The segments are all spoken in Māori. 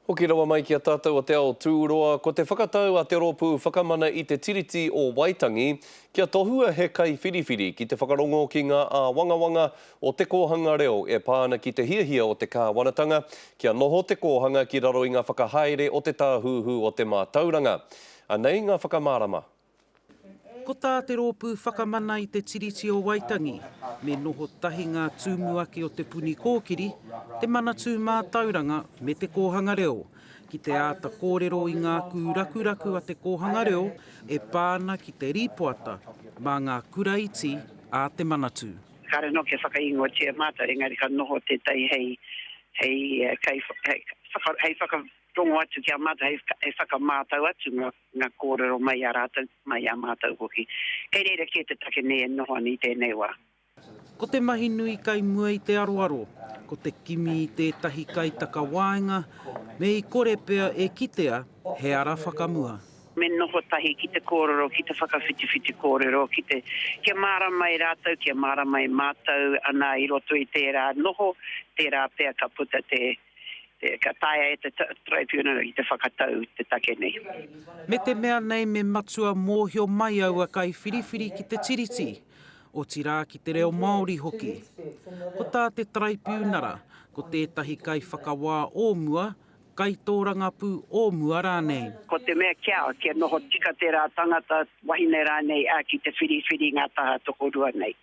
Hoki rawa mai ki a tātou o Te Ao Tūroa, ko te whakatau a Te Rōpū Whakamana i te Tiriti o Waitangi kia tohua he kaiwhiriwhiri ki te whakarongo ki ngā āwangawanga o te kōhanga reo e pā ana ki te hiahia o te kāwanatanga kia noho te kōhanga ki raro i ngā whakahaere o te Tāhuhu o te Mātauranga. Anei ngā whakamārama. Ko tā te Rōpū Whakamana i te Tiriti o Waitangi, me noho tahi ngā tumuaki o Te Puni Kōkiri, te Manatū Mātauranga me te Kōhanga Reo, ki te āta kōrero i ngā kūrakuraku a te kōhanga reo e pā ana ki te rīpoata mā ngā kura iti a te Manatū. Kāre anō kia whakaingoatia mātou, engari ka noho tētahi hei, hei, hei whakarongo atu ki a mātou, hei whakamātau atu ngā. Nga korero mai a ratou, mai a matou hoki. Kei reira kē te take nei e noho ana i tēnei wā. Ko te mahi nui kai mua i te aroaro, ko te kimi i tētahi kaitakawaenga me i kore pea e kitea he ara whakamua. Me noho tahi ki te kōrero, ki te whakawhitiwhiti kōrero, ki te, kia mārama e rātou, kia mārama e mātou, anā, i roto i tērā noho, tērā pea ka puta te. Ka taea e te Tribunal i te whakatau te take nei. Me te mea nei me matua mōhio mai aua kaiwhiriwhiri ki te Tiriti, otirā ki te reo Māori hoki. Ko tā te Taraipiunara, ko tētahi kaiwhakawā o mua, kaitōrangapū o mua rānei. Ko te mea kia, kia noho tika tērā tangata, wahine rānei, ā, ki te whiriwhiri ngā taha tokorua nei.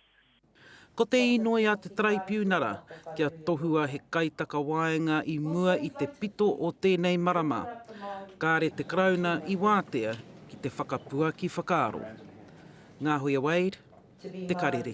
Ko te inoi a te Taraipiunara kia tohua he kaitakawaenga i mua i te pito o tēnei marama, kāre te Karauna i wātea ki te whakapuaki whakaaro. Ngā Hoia Wade, Te Karere.